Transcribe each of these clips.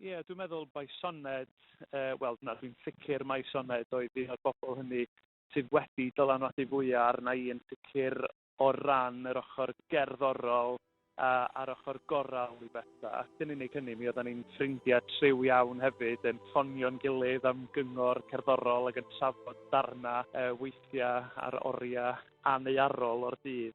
Ie, dwi'n meddwl mai Sioned, yy wel na dwi'n sicr mai Sioned oedd un o'r bobl hynny sydd wedi dylanwadu fwya' arna i yn sicr o ran yr ochr gerddorol a a'r ochr gorawl i betha. Ac yn unig hynny, mi oeddan ni'n ffrindia' triw iawn hefyd, yn ffonio'n gilydd am gyngor cerddorol ac yn trafod darna yy weithia' ar oria' aneuarol o'r dydd.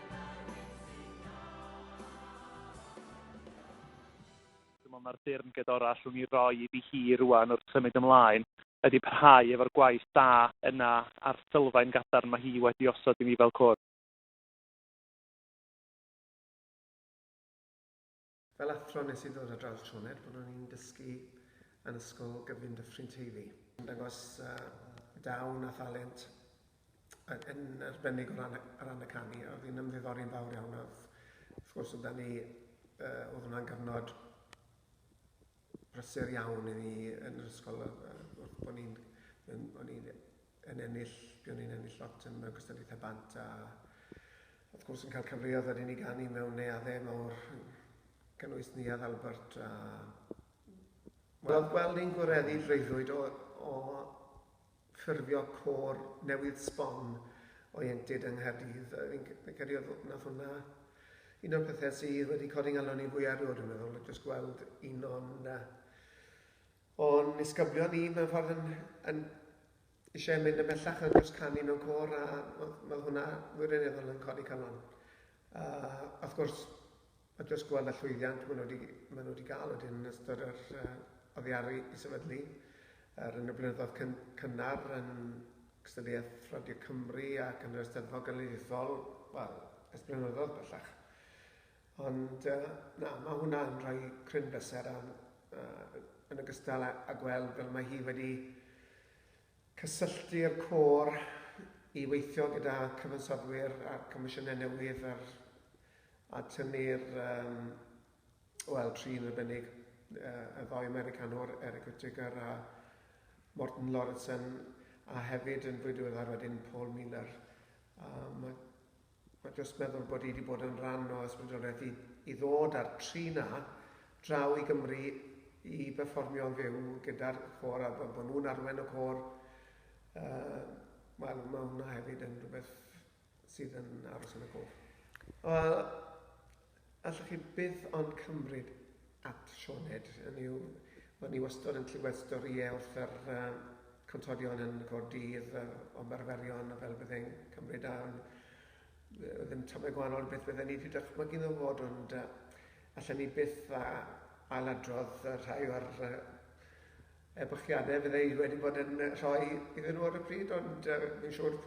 Dyma mae'r dyrn gedorau allwn ni roi iddi hi rŵan wrth symud ymlaen, ydi parhau efo'r gwaith da yna a'r sylfaen gadarn mae hi wedi osod i ni fel cwrs. Fel athro nes i ddod ar draws Sioned pan o'n i'n dysgu yn ysgol gyfun Dyffryn Teifi. Yn dangos dawn a thalent yn arbennig o ran y, o ran y canu a oedd hi'n ymddiddori'n fawr iawn a oedd wrth gwrs oedd 'da ni uh, oedd hwnna'n gyfnod brysur iawn i ni yn yr ysgol wrth bod ni'n o'n i'n yn ennill, buon ni'n ennill lot yn mewn cystadlaethau bant a wrth gwrs yn cael cyfleoedd wedyn i ganu mewn neuaddau mawr gynnwys Neuadd Albert a Wel, gweld ni'n gwareddu freuddwyd o, o ffurfio cor newydd sbon o ieuenctid yng Nghaerdydd. Fi'n credu oedd nath hwnna un o'r pethau sydd wedi codi ngalon ni fwy erioed yn meddwl, jyst gweld un o'n uh, O'n nisgyblion ni mewn ffordd yn yn eisiau mynd ymhellach yn dros canu mewn côr a mae hwnna wirioneddol yn codi calon. A wrth gwrs, mae jyst gweld y llwyddiant maen nhw wedi, maen nhw wedi gael wedyn yn ystod yr uh, oddiaru i sefydlu er yn y blynyddoedd cyn, cynnar yn cystadleuaeth Radio Cymru ac yn yr Eisteddfod Genedlaethol, wel, ers blynyddoedd bellach. Ond na, mae hwnna yn rhoi cryn bleser a yn ogystal â gweld fel mae hi wedi cysylltu'r côr i weithio gyda cyfansoddwyr a comisiynau newydd ar a tynnu'r um, wel, trin arbennig y ddoi Americanwr, Eric Whittaker a Morten Lauritsen, a hefyd yn fwy diweddar wedyn Paul Miller. A mae A jyst meddwl bod hi 'di bod yn rhan o ysbrydoliaeth i i ddod a'r tri 'na draw i Gymru i berfformio'n fyw gyda'r côr a bod bod nhw'n arwain y côr yy wel ma' hwnna hefyd yn rhywbeth sydd yn aros yn y cof. Wel Allwch chi byth ond cymryd at Sioned, hynny yw, o'n i wastod yn clywed storïau wrth yr uh, contorion yn y cor dydd, uh, ymarferion, a fel byddai'n cymryd arn. Ddim tamau gwahanol beth bydden ni wedi dychmygu nhw fod, ond uh, allan ni byth a ailadrodd uh, rhai o'r uh, ebychiadau fydde i wedi bod yn rhoi iddyn nhw ar y pryd, ond uh, fi'n siŵr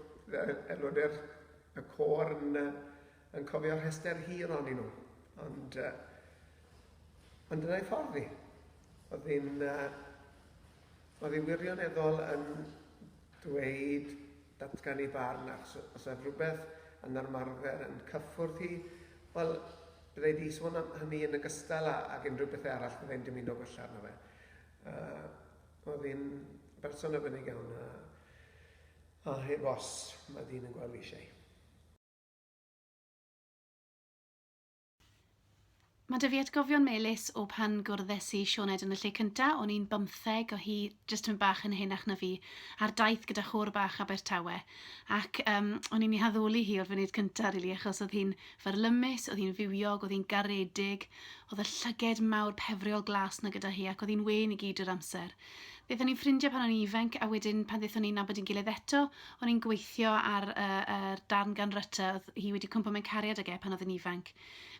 aelodau'r y cor yn uh, Yn cofio rhestr hir onyn nhw, ond yy ond dyna ei ffordd hi. Oedd hi'n yy oedd hi wirioneddol yn dweud, datgan ei barn, achos os oedd rhywbeth yn armarfer yn cyffwrdd hi, wel, byddai wedi sôn am hynny yn ogystal â ag unrhyw bethau arall fyddai'n dymuno gwella arno fe. Yy oedd hi'n berson arbennig iawn a a heb os, mae dyn yn gweld fi eisiau. Mae 'da fi atgofion melys o pan gwrddes i Sioned yn y lle cynta, o'n i'n bymtheg o hi, jyst yn bach yn henach na fi, ar daith gyda chôr bach Abertawe, ac um, o'n i'n ei haddoli hi o'r funud cynta, really, achos oedd hi'n fyrlymus, oedd hi'n fywiog, oedd hi'n garedig, oedd y llyged mawr pefriol glas na gyda hi, ac oedd hi'n wen i gyd yr amser. Roeddwn ni'n ffrindiau pan o'n i'n ifanc a wedyn pan ddaethon ni'n nabod ein gilydd eto, o'n i'n gweithio ar y yr darn gan Rutter a oedd hi wedi cwmpo mewn cariad ag e pan oedd yn ifanc.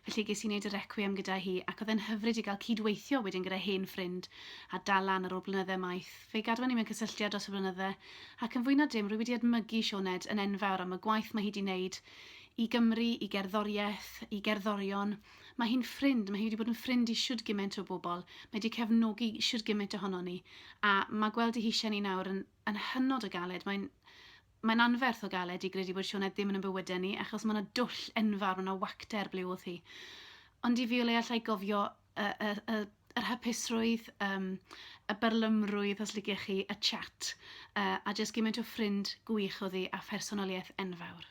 Felly ges i wneud y Requiem gyda hi ac oedd e'n hyfryd i gael cyd-weithio wedyn gyda hen ffrind a dal lan ar ôl blynydde maith. Fe gadwon ni mewn cysylltiad dros y blynydde ac yn fwy na dim rwy wedi edmygu Sioned yn enfawr am y gwaith mae hi 'di wneud i Gymru, i gerddoriaeth, i gerddorion, Mae hi'n ffrind, mae hi wedi bod yn ffrind i siwr gymaint o bobl, mae wedi cefnogi siwr gymaint ohono ni, a mae gweld ei hisiau ni nawr yn, yn hynod o galed. Mae'n mae'n anferth o galed i gredu bod Sioned ddim yn y bywydau ni, achos mae yna dwll enfawr, mae yna wacter ble oedd hi. Ond i fi o leia allai gofio y, y, y, yr hapusrwydd, um, y byrlymrwydd, os liciech chi, y chat, uh, a jyst gymaint o ffrind gwych oedd hi a phersonoliaeth enfawr.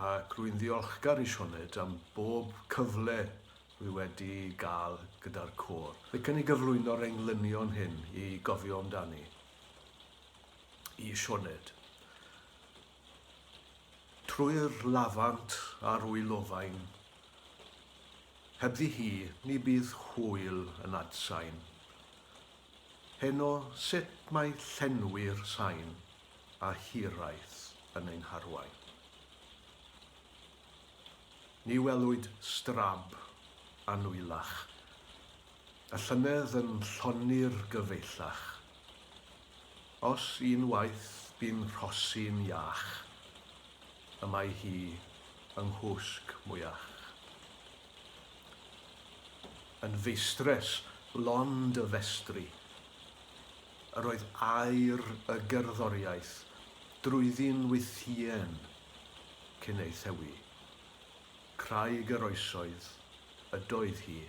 ac rwy'n ddiolchgar i Sioned am bob cyfle rwy wedi gael gyda'r côr, ac yn ei gyflwyno'r englynion hyn i gofio amdani. I Sioned. Trwy'r lafant a'r wylofain, hebddi hi, ni bydd hwyl yn adsain. Heno, sut mae llenwi'r sain? a hiraeth yn ein harwain. Ni welwyd strab annwyllach, a llynedd yn llonni'r gyfeillach. Os un waith bu'n rhosi'n iach, y mae hi yng nghwsg mwyach. Yn feistres lond y festri, Yr oedd air y gerddoriaeth drwyddi'n wythïen cyn ei thewi. Craig yr oesoedd ydoedd hi.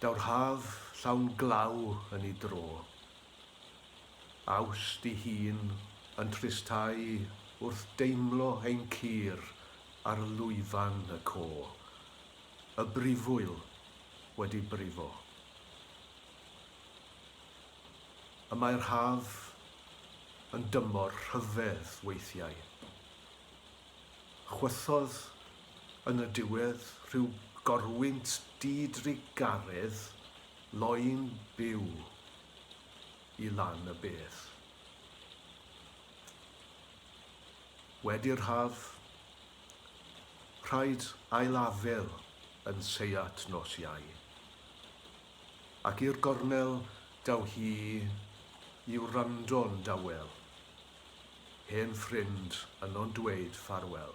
Daw'r haf llawn glaw yn ei dro. Awst i hun yn tristau wrth deimlo ein cur ar lwyfan y co. Y brifwyl wedi brifo. Y mae'r haf yn dymor rhyfedd weithiau. Chwythodd yn y diwedd rhyw gorwynt di-drugaredd loyn byw i lan y bedd. Wedi'r haf, rhaid ailafel yn seiat nos Iau. Ac i'r gornel daw hi i wrando'n dawel, hen ffrind yno'n dweud ffarwel.